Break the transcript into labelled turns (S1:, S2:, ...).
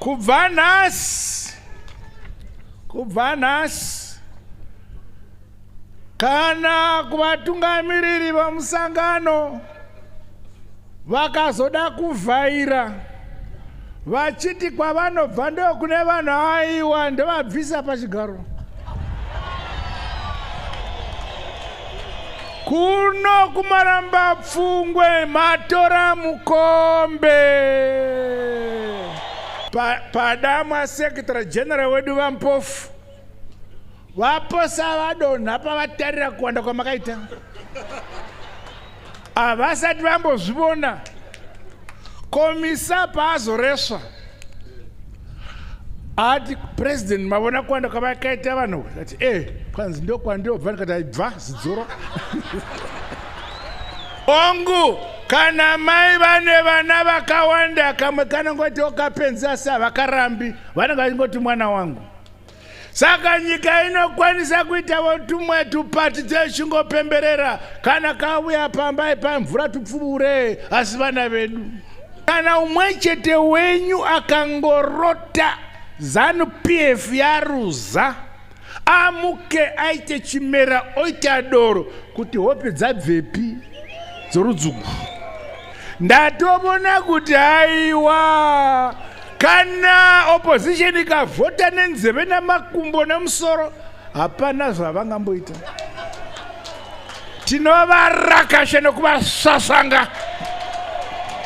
S1: kubva nhasi kubva nhasi kana kuvatungamiriri vamusangano vakazoda kuvhaira vachiti kwavanobva ndokune vanhu aiwa ndovabvisa pachigaro Kuno kumaramba pfungwe matora mukombe padamwa pa secretary general wedu vampofu vaposa vadonha pavatarira kuwanda kwamakaita havasati vambozvivona komisa paazoresva ati president mavona kwanda kwavakaita vanhu ati e eh, kwanzi ndokwandiobva ndikati aibva zidzoro ongu kana mai vane vana vakawanda kamwe kanongoti okapenza sa vakarambi vanenge vachingoti mwana wangu saka nyika inokwanisa kuitavo tumwe tupati dzechingopemberera kana kauya pambai pamvura tupfuure asi vana vedu kana umwe chete wenyu akangorota zanu pf yaruza amuke aite chimera oita doro kuti hope dzabvepi dzorudzungu ndatovona kuti haiwa Kana opposition ikavhota nenzeve namakumbo nemusoro hapana zvavangamboita. Tinovarakasha nekuvasasanga.